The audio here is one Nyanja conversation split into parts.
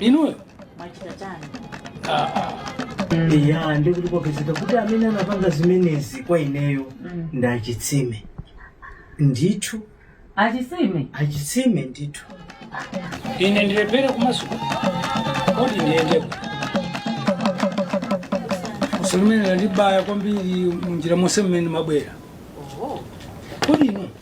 inuyo mwachita chani eya ndikuti kwapezeka kuti amene anapanga zimenezi kwa ineyo Mm. ndi achitsime ndithu achitsime achitsime ndithu ine ndilephere kumasuka kodi ndiyendeko funso limene landibaya kwambiri munjira monse mmene mabwera kodi inu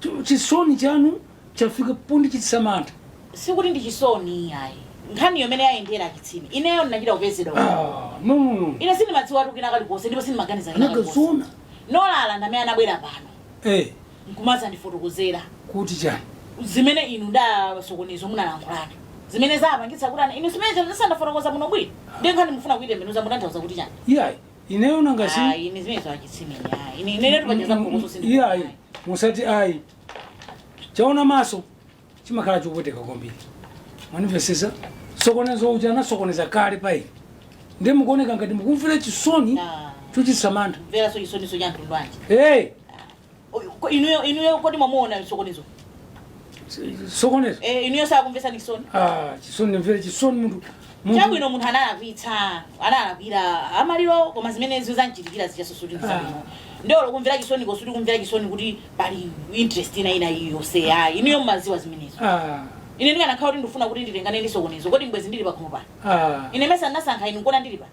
Ch- chisoni chanu chafika pondichititsa mantha sikuti ndi chisoni iyayi nkhaniyo mmene yayendera achitsime ineyo ndinachita kupezedwa Ah, no no no ine sindimadziwa tu kena kalikonse ndipo sindimaganiza kena kalikonse anakazona nolala ndamene anabwera pano eh nkumazandifotokozera kuti chani zimene inu ndi asokonezo munalankhulana zimene zapangitsa kuti ana inu zimene zisandafotokoza muno bwino ndiye nkhani mufuna kuitembenuza mutanthauza kuti chani iyayi ineyo nanga si Ayi, ine zimenezo achitsime. Ayi, ine inetu pacheza kukutu Mm, sindikufuna. iyayi musati ayi chaona maso chimakhala chopweteka kwambiri mwanimvesesa sokonezo uja anasokoneza kale payi ndiye mukuoneka ngati mukumvera chisoni Ah. chochititsa mantha Mveraso chisoniso cha mtundu wanji. hey Ko- inuyo inuyo kodi mwamuona sokonezo sokonezo eh inuyo sakumvesani chisoni ah chisoni ndimvere chisoni munthu munthu- chabwino munthu analakwitsa analakwira amaliro koma zimene izo zanchitikira zichasosotisa bwino ndolo kumvera chisoni kosati kumvera chisoni kuti pali interest ina ina yonse ayi inuyo mmaziwa zimenezo ah ine ndikanakhala kuti ndifuna kuti nditengane ndi sokonezo kodi bwezi ndili pakhomo pano ah ine mesa ndinasankha inu nkona ndili pano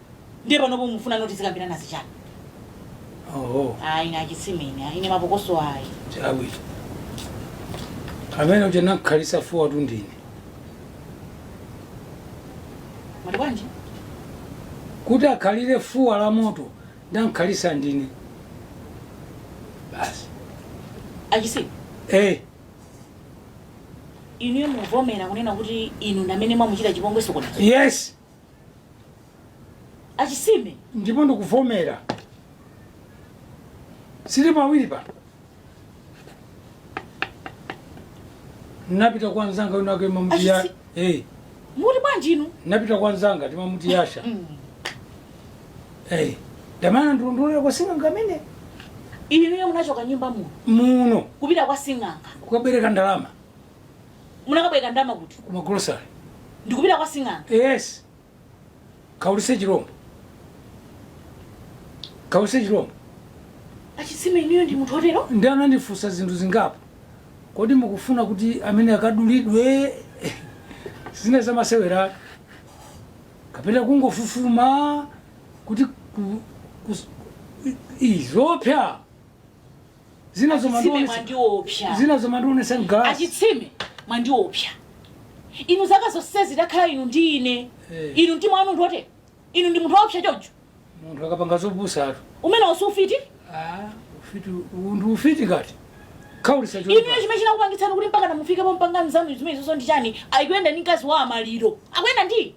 ndiye panopo mufunano tizikambirana zichani oho ayi ine achitsime ine ayi, ine mapokoso ayi chabwino amene uja namkhalisa fuwatu ndine mwati bwanji kuti akhalire fuwa la moto ndankhalisa ndine basi achitsime eh inuyo muvomera kunena kuti inu ndamene mwamuchita chipongwe sokonezo yes achitsime ndipo ndikuvomera silipo awiri pa napita kwa nzanga wina wake timamuti ya Achisi- hey, muti bwanji inu napita kwa nzanga timamuti yasha Mm. hey, ndamene anandilondolera kwa sing'anga amene inuyo munachoka nyumba muno muno kupita kwa sing'anga kukabwereka ndalama munakabwereka ndalama kuti kuma grocery ndikupita kwa sing'anga yes kaulise chilombo kaulise chilombo achitsime inuyo ndi munthu otero ndi anandifunsa zinthu zingapo kodi mukufuna kuti amene akadulidwe zina zamasewera kapena kungofufuma kuti ku- kus- i- izopya Achitsime mwandiopsa zina zomandionesa mgalasi. achitsime mwandiopsa inu zaka zonsezi takhala inu ndi ine Eh. inu mtima wanu ndiwotero inu ndi munthu woopsa choncho Munthu akapanga zopusa atu. umenewu si ufiti Ah, ufiti undu ufiti ngati. Kaulisa inu choipa. chimene chinakupangitsani kuti mpaka mufike pompanga nzanu zimenezonso ndi chani ayi akuyenda ndi mkazi wa amaliro akuyenda ndi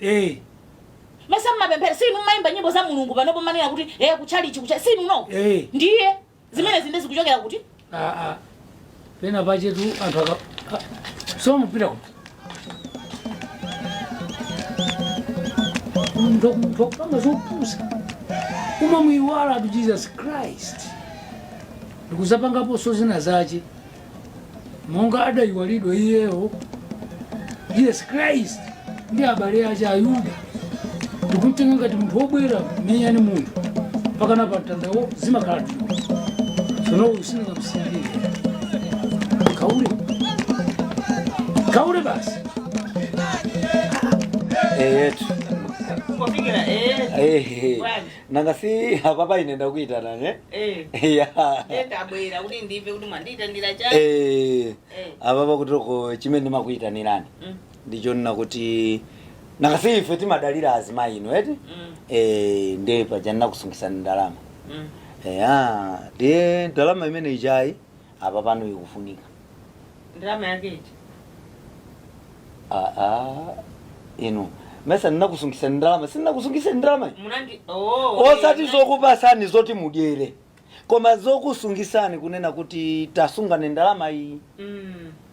Eh, mesa mmapemphera si inu mmayimba nyimbo za mulungu panopo manena kuti eh kuchalichi kucha si inuno Eh. ndiye zimenezi nde zikuchokera kuti ah, ah. Pena pachetu anthu aka. ah, So mupita kuti. Ndo ndo panga zopusa. Kumamuiwalatu Jesus Christ. Ndikuzapangapo so zina zache. monga adayiwalidwa iyeyo Jesus Christ ndi abale ache ayuda ndikumtenga ngati munthu wobwera kumenyana naye munthu mpakana pamtandawo zimakhala tulo sono uyu sindingamsiyalire kaule kaule basi eyetu Kufikira eh. ehe bwana. nanga si apapa ine ndakuitanani eh? Eh, ya ndiye ndabwera kuti ndimve kuti mwandiitanira chani Eh, Eh. apapa kuti chimene ndimakuitanirani Mm, ndichonena kuti nanga si ife timadalira azimayinu eti mm, Eh, ndiye paja ndinakusungisani ndalama mm, eya ndiye ndalama imeneijayi apa pano ikufunika ndalama yake iti aa inu mesa ninakusungisani ndalama sindinakusungisani ndalama munandi oh, osati zokupasani zoti mudyere koma zokusungisani kunena kuti tasungani ndalama iyi mm.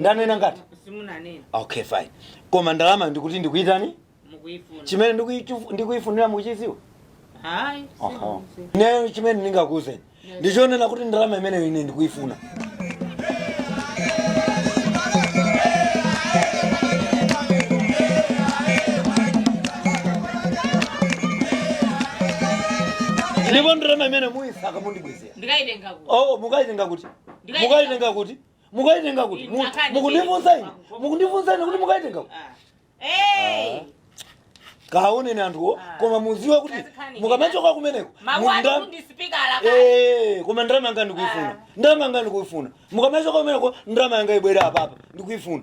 ndanena ngati simunanena okay fine koma ndalamayo ndikuti ndikuitani mukuyifuna chimene ndikuyichu- ndikuyifunira muchiziwa ayi Aha. ineyo chimene ndingakuuzeni ndichonena kuti ndalama imeneyo ine ndikuyifuna ndipo ndalama imene muyisaka mundibwezera ndikayitenga ku oh mukayitenga kuti mukaitenga kuti mukaitenga kuti Mu- Mnakani mukundifunsa ine chete. mukundifunsa ine kuti mukaitenga kuti Ah. Eh. kaoneni anthuwo Ah. koma muziwe kuti Kazikhani. mukamachoka kumeneko Mawu munda- athu ndi sipikala kale. Eh, koma ndalama yanga ndikuifuna ndalama yanga ndikuifuna mukamachoka kumeneko ndalama yanga ibwere apapa ndikuifuna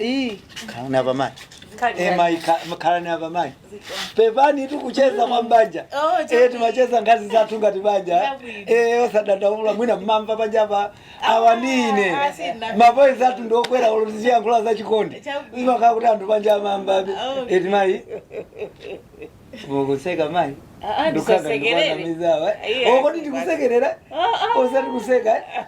Ii, khalani apa mayi Eh, mayi kha- khalani apa mayi pepanitu kucheza mwa mbanja Oh, Eh, chakwi. timacheza nkhani zathu ngati banja Chabwino. Eh, osadandaula mwina mmamva panja apa awanine ah, sina. mavoice athu ndiokwera olo tiziyankhula za chikondi Chabwino. imakhala kuti anthu panja amamvabe Oh. eti mayi mukuseka mayi Ah, ah, Ndukhaza ndisasekerere. ndikwanamizawa. Iye, Oh, kodi ndikusekerera Ah, ah. osati kuseka eh?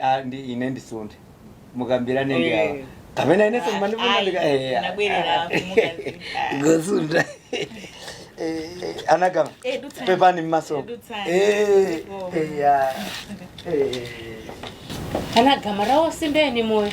Ah, ndi ine ndisunthe mukambirane ndi awa Eh. kapena inenso mmandifuna Ayi, ndika eh, ah, unabwerera ah, apo, mukazi. ngosuntha Eh, anagama Eh, dutsani. pepani mmaso Eh, dutsani. Eh, Oh. eh, ah, eh. anagama tawuzeni moyo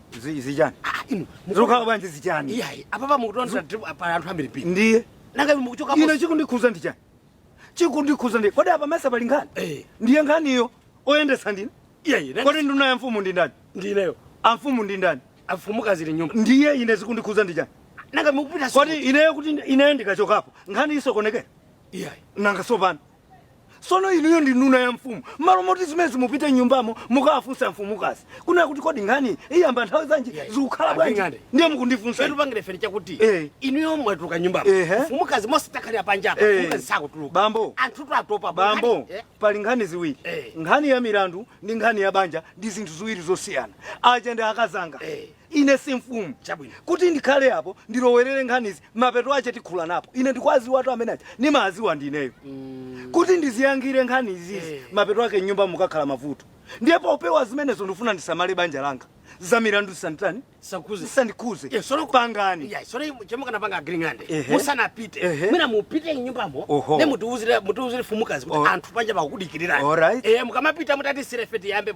Zi- zichani Ah, inu zikukhala bwanji zichani iyayi apapa mukutonda trip apa anthu ambiri pili ndiye nanga inu mukuchoka ine chikundikhuza ndi chani chikundikhuza ndi kodi apa mesa pali nkhani Eh. ndiye nkhaniyo oyendesa ndine iyayi nanga kodi nduna ya mfumu ndi ndani ndineyo amfumu ndi ndani afumukazi ali mnyumba ndiye ine zikundikhuza ndi chani nanga mukupita kodi ineyo kuti ineyo ndikachokapo nkhani isokonekera iyayi nanga tsopano sono inuyo ndi nduna ya mfumu mmalo moti zimenezi mupite mnyumbamo mukawafunsa mfumukazi kunena kuti kodi nkhani iyamba nthawi zanji Yeah. zikukhala bwanji Anding'ande. ndiye mukundifunsa Fetu pangire feri chakuti Eh. inuyo mwatuluka mnyumba Ehe. mfumukazi mesa takhalira panja apa Eh. mfumukazi sakutuluka Bambo. anthu atopa bambo Eh. pali nkhani ziwiri Eh. nkhani ya milandu ndi nkhani ya banja ndi zinthu ziwiri zosiyana aja ndi akazanga Eh. Ine si mfumu. Chabwino. Kuti ndikhale apo, ndilowerere nkhanizi, mapeto ache tikhulanapo. Ine ndikuwadziwatu amene aja. Ndimawadziwa ndineyo. Mm. Kuti ndiziyankhire nkhani izizi, hey. Eh. mapeto ake mnyumbamo kukakhala mavuto. Ndiye popewa zimenezo ndifuna ndisamale banja langa. Za milandu sanditani? Sakhudze. Sandikhudze. Yes, eh, sono pangani. Yes, sono chemukana panga agreement. Eh, Musanapite. Mwina mupite mnyumbamo. Nde mutiuzire mutiuzire mfumukazi. Anthu panjapa akudikirira. All right. Eh, mukamapita mutati sirefeti yambe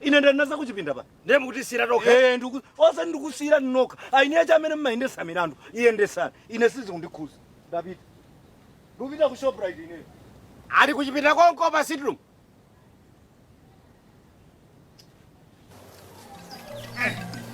Ine ndanena za kuchipinda apa. Ndiye mukutisiyira tokha? Eh, ndiku osati ndikusiyira nokha. Eni ache amene mumayendesa milandu, yendesani. Ine sizikundikhuza. Ndapita. Ndupita ku Shoprite ine. Ali kuchipinda konko pa sitting room.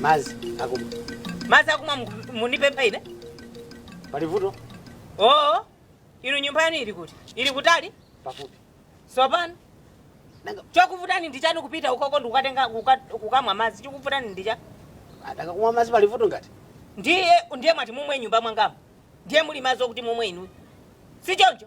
Mazi akumwa. Mazi akumwa mundipempha ine? Pali vuto? Oo. Inu nyumba yanu ili kuti? Ili kutali? Pafupi. Sopano? Chokuvutani ndi chani kupita ukoko ndi kukatenga kukamwa mazi? Chokuvutani ndi chani? Atakakumwa mazi pali vuto ngati? Ndiye ndiye mwati mumwe mnyumba mwangamu. Ndiye muli mazi okuti mumwe inu. Si choncho?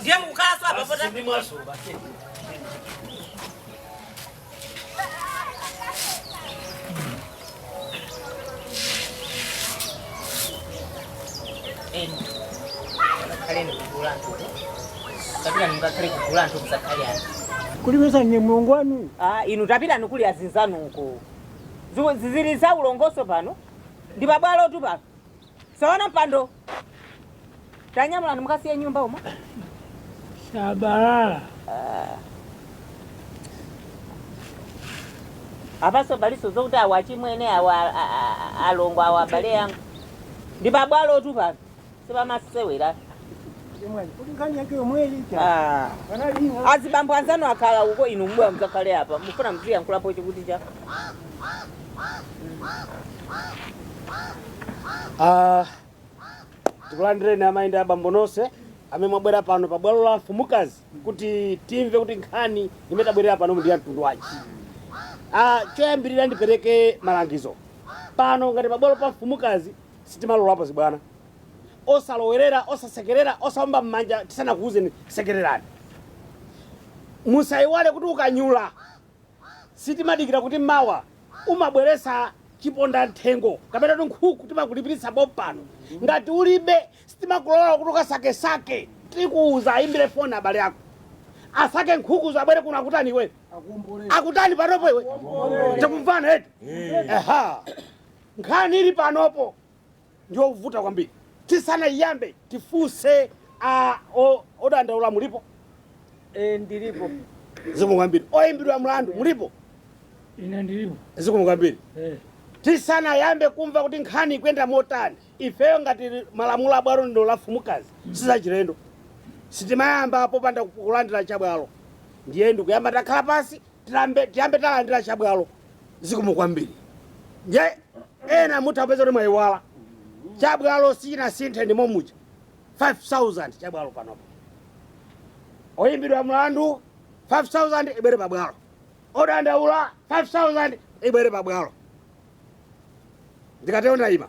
ndiye mukukhalanso apa pota kulimbitsa nje mlongo wanu Ah, inu tapitani kuli azinzanu uko Ziku- zizili za ulongoso pano ndi pabwalotu pano saona mpando tanyamulani mukasiye nyumba umo shabalala apaso paliso zokuti awa achimwene awa a- a- a- alongo awa abale yangu ndi pabwalo tu pano sipamasewera Ah. azibambo anzanu akhala uko inu mbuya mudzakhale apa mufuna muziyankhulapo chikuti chani Ah, tikulandireni amayi ndi abambo nonse amene mwabwera pano pa bwalo la mfumukazi kuti timve kuti nkhani imene tabwerera pano ndi ya mtundu wanji Ah, choyambirira ndipereke malangizo pano ngati pabwalo pa mfumukazi sitimalolapo zibwana osalowerera osasekerera osaomba mmanja tisanakuwuzeni sekererani musayiwale kuti ukanyula sitimadikira kuti mawa umabweretsa chipondamthengo kapena kuti nkhuku timakulipiritsa pompano ngati ulibe sitimakulola kuti ukasakesake tikuwuza ayimbire foni abale ako asake nkhukuzo abwere kuno akutani iwe akutani panopo iwe tikumvana eti eha nkhani ili panopo ndiyovuta kwambiri. Tisanaiyambe tifunse a odandaula mulipo? E, ndilipo. Zikomo kwambiri. Oyimbidwa mlandu mulipo? Ine ndilipo. Zikomo kwambiri. E. Tisanayambe kumva kuti nkhani ikuyenda motani ifeyo ngati malamulo a bwalo lino la mfumukazi sizachilendo sitimayamba popanda kulandira chabwalo ndiye ndikuyamba ndakhala pansi tiyambe talandira chabwalo zikomo kwambiri ndiye ena mutha kupeza kuti mwayiwala chabwalo sichinasinthe ndimo muja 5000 chabwalo panopo oyimbidwa mlandu 5000 ibwere pabwalo odandaula 5000 ibwere pabwalo ndikatero ndayima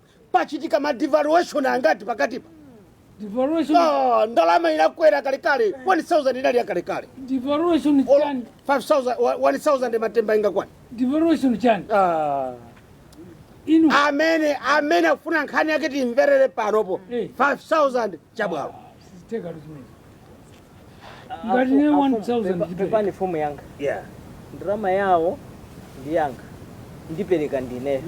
pachitika ma devaluation angati pakatipa Devaluation, Ah, ndalama inakwera kalekale 1000 inali ya kalekale devaluation Olo- chani? 5000 wa- 1000 matemba ingakwane Devaluation chani? Ah. Inu amene amene akufuna nkhani yake timvere panopo Eh. 5000 chabwalo. siziteka luzimene. Ngati ne 1000 pepani mfumu yanga Yeah. ndalama yawo ndi yanga ndipereka ndine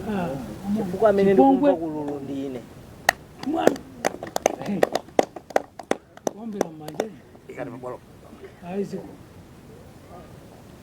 chifukwa amene ndikumva kululuka ndi ine mwana Hey. ombera mmanja Ikati mabwalo. aiziko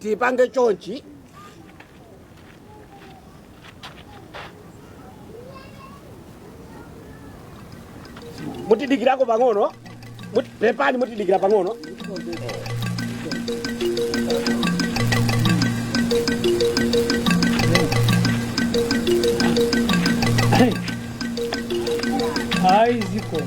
tipange chonchi mutidikirako pang'ono Mut- pepani mutidikira pang'ono ayi zikomo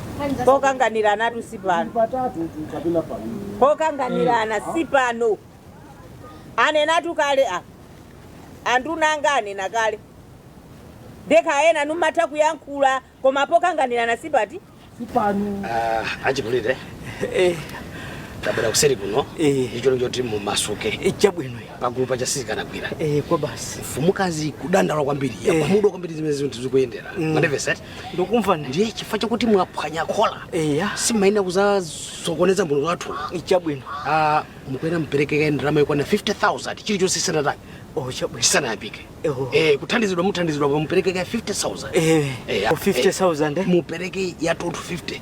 pokanganiranatu si pano patatu tu kapena pawiri pokanganirana si pano anenatu kale a anduna anga anena kale ndi kale ena numatha kuyankhula koma pokanganirana si pati si pano Ah, achikulire Eh, tabwerani kuseri kuno Eh. ndicholinga choti mumasuke eh, chabwino pagulu paja sizikanagwira Eh, kwa basi mfumukazi kudandala kwambiri yakhumudwa kwambiri zimene zinthu zikuyendera mwandimvetsetsa Ndukumva ne. Ndiye chifukwa chakuti mwaphwanya khola. Eya. Simumayenera kudzasokoneza mbumba yathu. Chabwino. Ah, mukuyenera mupereke kaye ndalama yokwana 50,000 chilichonse sanatani. Oh, chabwino. Sanayambike. Eya. Eh, kuthandizidwa muthandizidwa koma mupereke kaye 50,000. Eh. Eh, 50,000. eh. Mupereke ya anthu 50.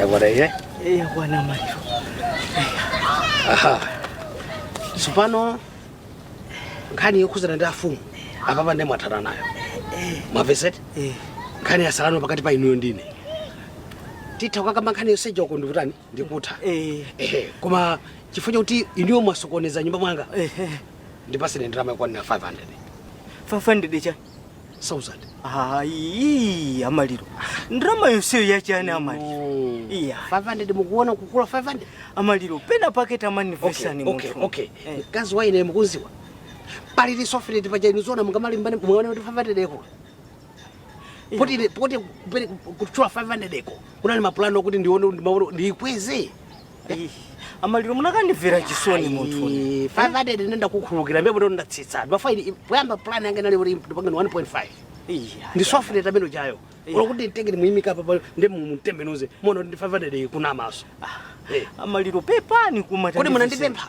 yakwana iye yakwana amaliro aha tsopano nkhani yokhudzana ndi afumu apapa ndiye mwathana nayo mwamvetsetsa nkhani yatsalano pakati pa inuyo ndine titha kukakamba nkhani potseka uko ndikutani ndikutha Eh. Ehe, koma chifukwa chakuti inuyo mwasokoneza nyumba mwanga Ehe. ndipatseni ndalama yokwana 500 500 chani. 1000 Ayi, amaliro. Ndalama yonseyo yachani amaliro. Mm. Iya. 500 mukuona kukula 500 Amaliro pena pake tamandi okay, mvetsani okay, munthu. okay. Eh. mkazi wa ine mukumudziwa palili software ti paja inu zona mungamalimbane muone kuti 500 yakula poti poti kupere- kutchula 500 ko kunali maplani okuti ndione ndimaone- ndiikweze Ih, amaliro mukanandimvera chisoni munthu Ayi, 500 ine ndakukhululukirani pamenepo ndiye ndatsitsa ndimafuna poyamba plan yanga inali kuti ndipangeni 1.5 Iya, ndi software tamene tija Yeah. olo kuti nditenge ndimuyimika apa pa- ndi kumutembenuza muona kuti ndi 500 kumaso Eh. amaliro pepani kuma Kodi munandipempha?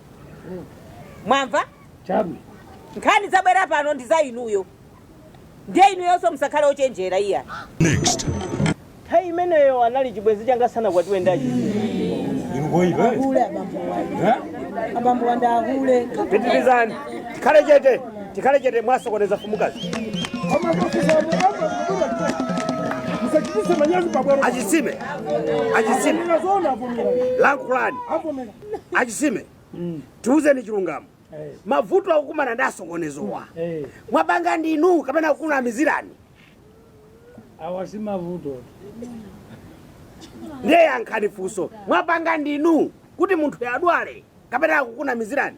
mwamva Chabwino. nkhani zabwera pano ndi za inuyo ndiye inuyonso musakhale ochenjera iya nthawi imeneyo anali chibwenzi changa sanakwatiwe ndi achi Ahule abambo wake. Abambo wa ndani hule. Pitirizani. Tikhale chete. Tikhale chete mwasokoneza mfumukazi. Achisime. Achisime. Lankhulani. achisime tiuzeni chilungamo Eh. mavuto akukumana ndi asokonezowa Eh. mwapanga ndinu kapena akukunamizirani awa si mavuto ndiye yankhani funso mwapanga ndinu kuti munthuyu adwale kapena akukunamizirani